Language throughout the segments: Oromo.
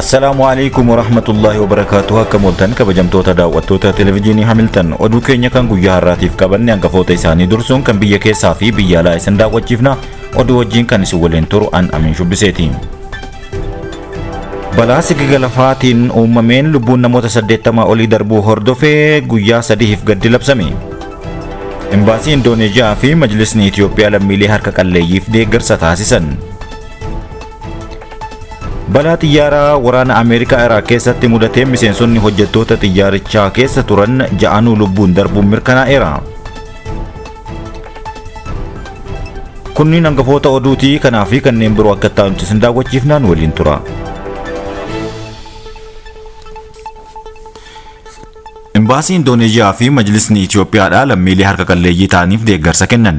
Assalaamu alaikum warahmatullahi wabarakaatuh akka mooltan kabajamtoota daawwattoota televijiinii Hamiltan oduu keenya kan guyyaa har'aatiif qabanne hangafoota isaanii dursuun kan biyya keessaa fi biyya alaa isin daawwachiifna oduu wajjiin kan isin waliin turu an amin shubbiseeti. Balaa sigiga lafaatiin uumameen lubbuun namoota 80 olii darbuu hordofee guyyaa sadiif gaddi labsame. Imbaasii Indooneeziyaa fi Majlisni Itoophiyaa lammiilee harka qalleeyyiif deeggarsa taasisan. Balaa xiyyaaraa waraana Ameerikaa Iraaq keessatti mudateen miseensonni hojjettoota xiyyaarichaa keessa turan ja'anuu lubbuun darbuun mirkanaa'eera. Kunniin hangafoota oduutii kanaa fi kanneen biroo akka ta'anutti isin daawwachiifnaan waliin tura. Imbaasii Indooneezhiyaa fi Majlisni Itoophiyaadhaa lammiilee harka qalleeyyii ta'aniif deeggarsa kennan.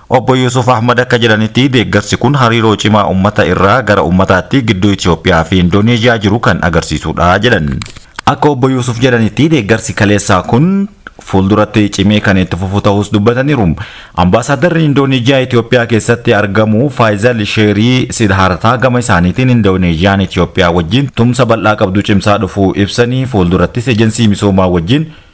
Obbo Yuusuf Ahmad akka jedhanitti, deeggarsi kun hariiroo cimaa ummata irraa gara ummataatti gidduu Itoophiyaa fi Indooneezhiyaa jiru kan agarsiisudha jedhan. Akka Obbo Yuusuf jedhanitti, deeggarsi kaleessaa kun fuulduratti cimee kan itti fufu ta'uus dubbataniiru. Ambaasaaddarri Indooneezhiyaa Itoophiyaa keessatti argamu Faayizal Sheerii Sidhaartaa gama isaaniitiin Indooneezhiyaan Itoophiyaa wajjin tumsa bal'aa qabdu cimsaa dhufuu ibsanii, fuuldurattis Ejensii Misoomaa wajjin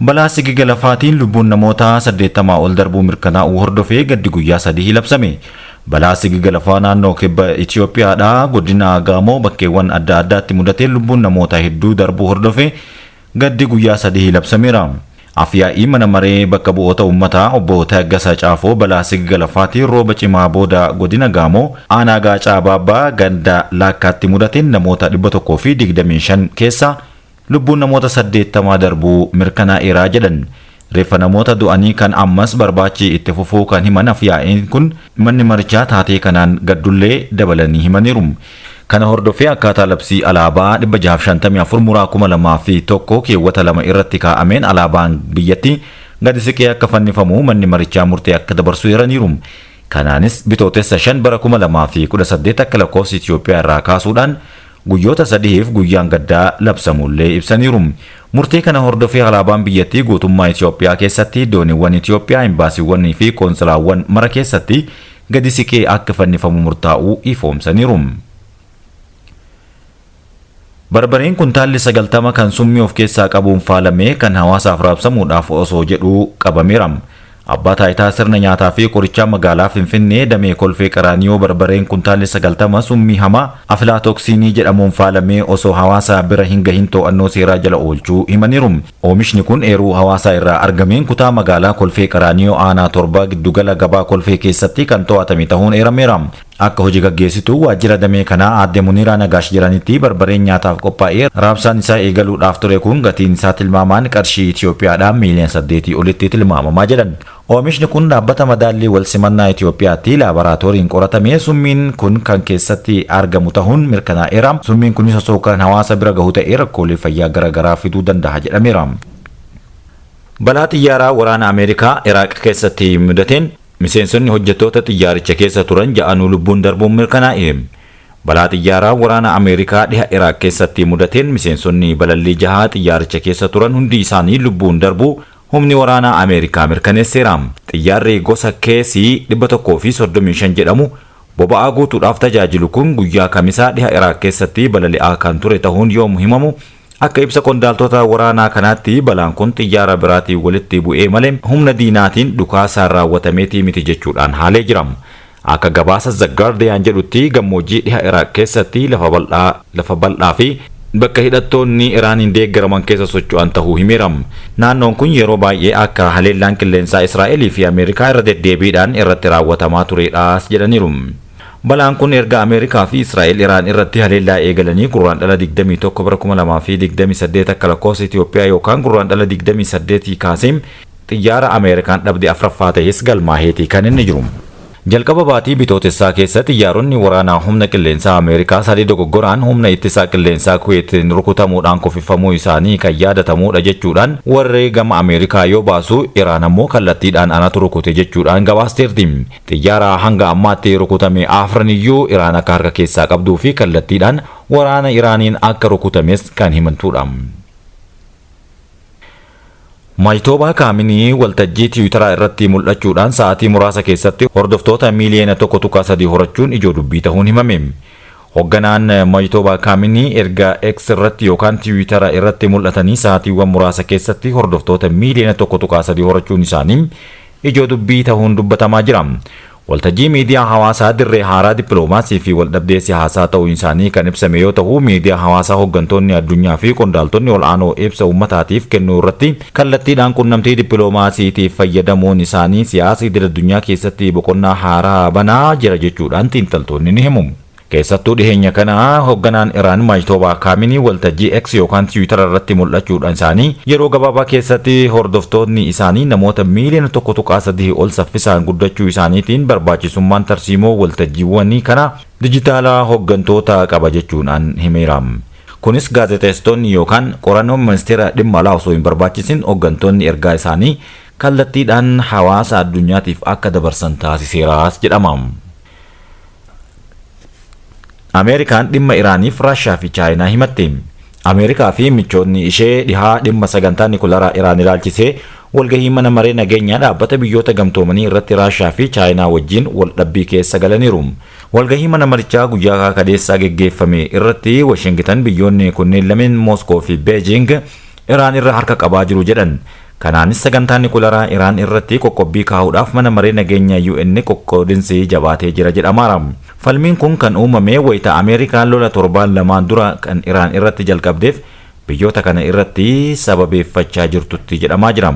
Balaa sigiga lafaatiin lubbuun namoota 80 ol darbuu mirkanaa'uu hordofee gaddi guyyaa sadihii labsame. Balaa sigiga lafaa naannoo kibba Itiyoophiyaadhaa godina Gaamoo bakkeewwan adda addaatti mudateen lubbuun namoota hedduu darbuu hordofee gaddi guyyaa sadihii labsameera. Af-yaa'ii mana maree bakka bu'oota uummataa obbo Taggasa Caafoo balaa sigiga lafaatiin rooba cimaa booda godina Gaamoo aanaa Gaacaa Baabbaa ganda Laakkaatti mudateen namoota 125 keessaa Lubbuun namoota 80 darbuu mirkanaa'eera jedhan. Reeffa namoota du'anii kan ammas barbaachi itti fufuu kan himan afyaa'in kun, manni marichaa taatee kanaan gaddullee dabalanii himaniiru. Kana hordofee akkaataa labsii alaabaa 654 muraa 2001 keewwata 2 irratti kaa'ameen alaabaan biyyatti gadi siqee akka fannifamu manni marichaa murtee akka dabarsu eeraniiru. Kanaanis Bitootessa 5 bara 2018 akka lakkoofsa Itiyoophiyaa irraa kaasuudhaan, Guyyoota sadihiif guyyaan gaddaa labsamuullee ibsaniiru. Murtee kana hordofee alaabaan biyyattii guutummaa Itoophiyaa keessatti, dooniiwwan Itoophiyaa, imbaasiiwwanii fi qoontsilaawwan mara keessatti gadi siqee akka fannifamu murtaa'uu ifoomsaniiru. Barbareen kuntaalli 90 kan summii of keessaa qabuun faalamee kan hawaasaaf raabsamuudhaaf osoo jedhuu qabameera. Abbaa Taayitaa Sirna Nyaataa fi Qorichaa Magaalaa Finfinnee Damee Kolfee Qaraaniyoo Barbareen Kuntaalli 90 Summii Hamaa Aflaatoksiinii jedhamuun faalamee osoo hawaasa bira hin gahin too'annoo seeraa jala oolchuu himaniiru. Oomishni kun eeruu hawaasaa irraa argameen kutaa magaalaa Kolfee Qaraaniyoo Aanaa 7 Giddugala Gabaa Kolfee keessatti kan too'atame tahuun eerameera. Akka hoji gaggeessituu waajjira damee kanaa aadde Muniiraa Nagaash jedhanitti barbareen nyaataaf qophaa'ee raabsaan isaa eegaluudhaaf ture kun gatiin isaa tilmaamaan qarshii Itiyoophiyaadhaa miiliyoona saddeetii olitti tilmaamamaa jedhan. Oomishni kun dhaabbata madaallii walsimannaa Itiyoophiyaatti laabaraatooriin qoratamee summiin kun kan keessatti argamu tahuun mirkanaa'eera. Summiin kunis osoo kan hawaasa bira gahu ta'ee rakkoolee fayyaa gara garaa fiduu dandaha jedhameera. Balaa xiyyaaraa waraana Ameerikaa Iraaq keessatti mudateen Miseensonni hojjettoota xiyyaaricha keessa turan ja'anuu lubbuun darbuun mirkanaa'e. Balaa xiyyaaraa waraana Ameerikaa dhiha Iraaq keessatti mudateen miseensonni balallii jaha xiyyaaricha keessa turan hundi isaanii lubbuun darbuu humni waraanaa Ameerikaa mirkaneesseera. Xiyyaarri gosa KC 135 jedhamu boba'aa guutuudhaaf tajaajilu kun guyyaa Kamisaa dhiha Iraaq keessatti balali'aa kan ture tahuun yoomu himamu, Akka ibsa qondaaltota waraanaa kanaatti balaan kun xiyyaara biraatiin walitti bu'ee malee humna diinaatiin dhukaasaan raawwatameeti miti jechuudhaan haalee jira. Akka gabaasa The Guardian jedhutti gammoojjii dhiha Iraaq keessatti lafa bal'aa lafa bal'aa fi bakka hidhattoonni Iraaniin deeggaraman keessa socho'an tahuu himeera. Naannoon kun yeroo baay'ee akka haleellaan qilleensaa Israa'elii fi Ameerikaa irra deddeebiidhaan irratti raawwatamaa tureedhas jedhaniiru. Balaan kun erga Ameerikaa fi Israa'el Iraan irratti haleellaa eegalanii Gurraandhala 21 bara 2028 akka lakkoofsa Itoophiyaa yookaan Gurraandhala 28 kaasee xiyyaara Ameerikaan dhabde afraffaa ta'ees galmaaheeti kan inni jiru. Jalqaba baatii Bitootessaa keessa xiyyaaronni waraanaa humna qilleensaa Ameerikaa sadii dogoggoraan humna ittisaa qilleensaa Kuweetiin rukutamuudhaan kufifamuu isaanii kan yaadatamuudha jechuudhaan warri gama Ameerikaa yoo baasu, Iraan ammoo kallattiidhaan anatu rukute jechuudhaan gabaasteerti. Xiyyaaraa hanga ammaatti rukutame afran iyyuu Iraan akka harka keessaa qabduu fi kallattiidhaan waraana Iraaniin akka rukutames kan himantudha. Majtoobaa Kaaminii waltajjii Tiwiitaraa irratti mul'achuudhaan sa'aatii muraasa keessatti hordoftoota miiliyoona 1.3 horachuun ijoo dubbii tahuun himame. Hogganaan Majtoobaa Kaaminii erga X irratti yookaan Tiwiitara irratti mul'atanii sa'aatiiwwan muraasa keessatti hordoftoota miiliyoona 1.3 horachuun isaanii ijoo dubbii tahuun dubbatamaa jira. Waltajjii miidiyaa hawaasaa dirree haaraa dippiloomaasii fi waldhabdee sihaasaa ta'uun isaanii kan ibsame yoo tahu miidiyaa hawaasaa hoggantoonni addunyaa fi qondaaltonni ol'aanoo ibsa ummataatiif kennuu irratti kallattiidhaan qunnamtii dippiloomaasiitiif fayyadamuun isaanii siyaasa idil-addunyaa keessatti boqonnaa haaraa banaa jira jechuudhaan xiinxaltoonni ni himu. Keessattuu dhiheenya kana hogganaan Iraan Majtoobaa Kaaminii waltajjii X yookaan Tiwiitara irratti mul'achuudhaan isaanii yeroo gabaabaa keessatti hordoftootni isaanii namoota miiliyoona 1.3 ol saffisaan guddachuu isaaniitiin barbaachisummaan tarsiimoo waltajjiiwwanii kanaa dijitaalaa hoggantoota qaba jechuudhaan himeera. Kunis gaazexeessitoonni yookaan qorannoon Ministeera Dhimma Alaa osoo hin barbaachisin hoggantoonni ergaa isaanii kallattiidhaan hawaasa addunyaatiif akka dabarsan taasiseeraas jedhama. Ameerikaan dhimma Iraaniif Raashiyaa fi Chaayinaa himatte. Ameerikaa fi michootni ishee dhihaa dhimma sagantaa nikularaa Iraan ilaalchisee walgahii mana maree nageenyaa dhaabbata biyyoota gamtoomanii irratti Raashiyaa fi Chaayinaa wajjiin waldhabbii keessa galaniiru. Walgahii mana marichaa guyyaa kaleessaa geggeeffame irratti Washingitan biyyoonni kunneen lameen Mooskoo fi Beejiing Iraan irra harka qabaa jiru jedhan. Kanaanis sagantaa nikularaa Iraan irratti qoqqobbii kaa'uudhaaf Mana Maree Nageenya UN qoqqoodinsi jabaatee jira jedhamaara. Falmiin kun kan uumame wayita Ameerikaan lola torbaan lamaan dura kan Iraan irratti jalqabdeef biyyoota kana irratti sababeeffachaa jirtutti jedhamaa jira.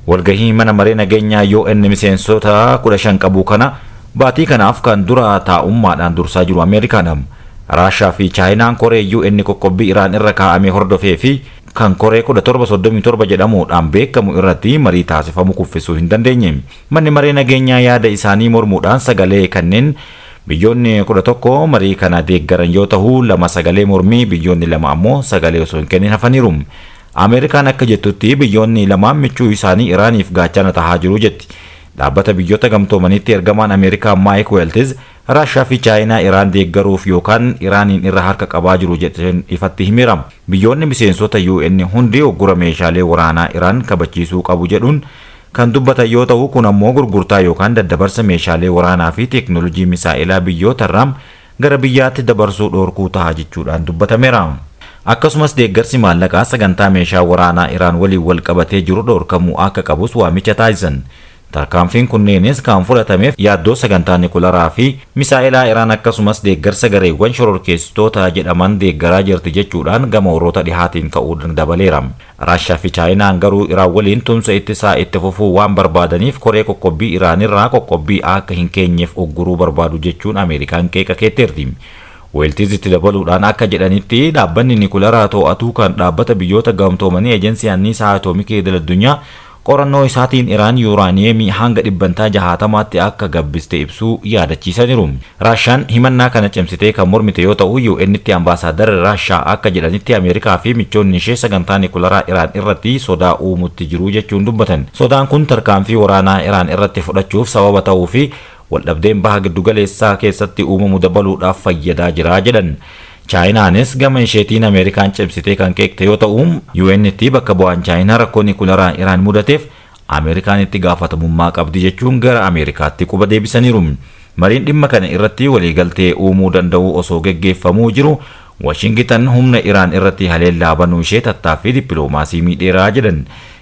Walgahii Mana Maree Nageenya UN miseensota 15 qabu kana baatii kanaaf kan dura taa'ummaadhaan dursaa jiru Ameerikaadha. Raashaa fi Chaayinaan koree UN qoqqobbii Iraan irra kaa'ame hordofee fi kan koree 1737 jedhamuudhaan beekamu irratti marii taasifamu kuffisuu hin dandeenye. Manni Maree Nageenyaa yaada isaanii mormuudhaan sagalee kanneen biyyoonni 11 marii kana deeggaran yoo tahu, lama sagalee mormii, biyyoonni lama ammoo sagalee osoo hin kennin hafaniiru. Ameerikaan akka jettutti biyyoonni lamaan michuu isaanii Iraaniif gaachana tahaa jiru jetti. Dhaabbata Biyyoota Gamtoomaniitti ergamaan Ameerikaa Maayik Weeltiz Raashiyaa fi Chaayinaa Iraan deeggaruuf yookaan Iraaniin irra harka qabaa jiru jedhteen ifatti himeera. Biyyoonni miseensota UN hundi uggura meeshaalee waraanaa Iraan kabachiisuu qabu jedhuun kan dubbatan yoo tahu kun ammoo gurgurtaa yookaan daddabarsa meeshaalee waraanaa fi teeknoolojii misaa'elaa biyyootarraa gara biyyaatti dabarsuu dhoorkuu taha jechuudhaan dubbatameera. Akkasumas deeggarsi maallaqaa sagantaa meeshaa waraanaa Iraan waliin wal qabatee jiru dhoorkamuu akka qabus waamicha taasisan. Tarkaanfiin kunneenis kan fudhatameef yaaddoo sagantaa nikularaa fi misaa'elaa Iraan akkasumas deeggarsa gareewwan shororkeessitoota jedhaman deeggaraa jirti jechuudhaan gama warroota dhihaatiin ka'uun dabaleera. Raashiyaa fi Chaayinaan garuu Iraan waliin tumsa ittisaa itti fufuu waan barbaadaniif koree qoqqobbii Iraanirraa qoqqobbii akka hin keenyeef ugguruu barbaadu jechuun Ameerikaan qeeqa keetteerti. Weeltiiz itti dabaluudhaan akka jedhanitti, dhaabbanni nikularaa too'atu kan Dhaabbata Biyyoota Gamtoomanii Ejensii Anniisaa Atoomikii Idil-addunyaa Qorannoo isaatiin Iraan yuuraaniyeemii hanga dhibbantaa jahaatamaatti akka gabbiste ibsuu yaadachiisaniru. Raashaan himannaa kana cimsitee kan mormite yoo ta'u, UN'tti ambaasaadarri Raashaa akka jedhanitti Ameerikaa fi michoonni ishee sagantaa nikularaa Iraan irratti sodaa uumutti jiru jechuun dubbatan. Sodaan kun tarkaanfii waraanaa Iraan irratti fudhachuuf sababa ta'uu fi waldhabdeen Baha Giddugaleessaa keessatti uumamu dabaluudhaaf fayyadaa jira jedhan. Chaayinaanis gama isheetiin Ameerikaan cimsitee kan qeeqxe yoo ta'u, UN'tti bakka bu'aan Chaayinaa rakkoo nikularaan Iraan mudateef Ameerikaan itti gaafatamummaa qabdi jechuun gara Ameerikaatti quba deebisaniiru. Mariin dhimma kana irratti waliigaltee uumuu danda'u osoo geggeeffamuu jiru Washingitan humna Iraan irratti haleellaa banuu ishee tattaaffii dippiloomaasii miidheera jedhan.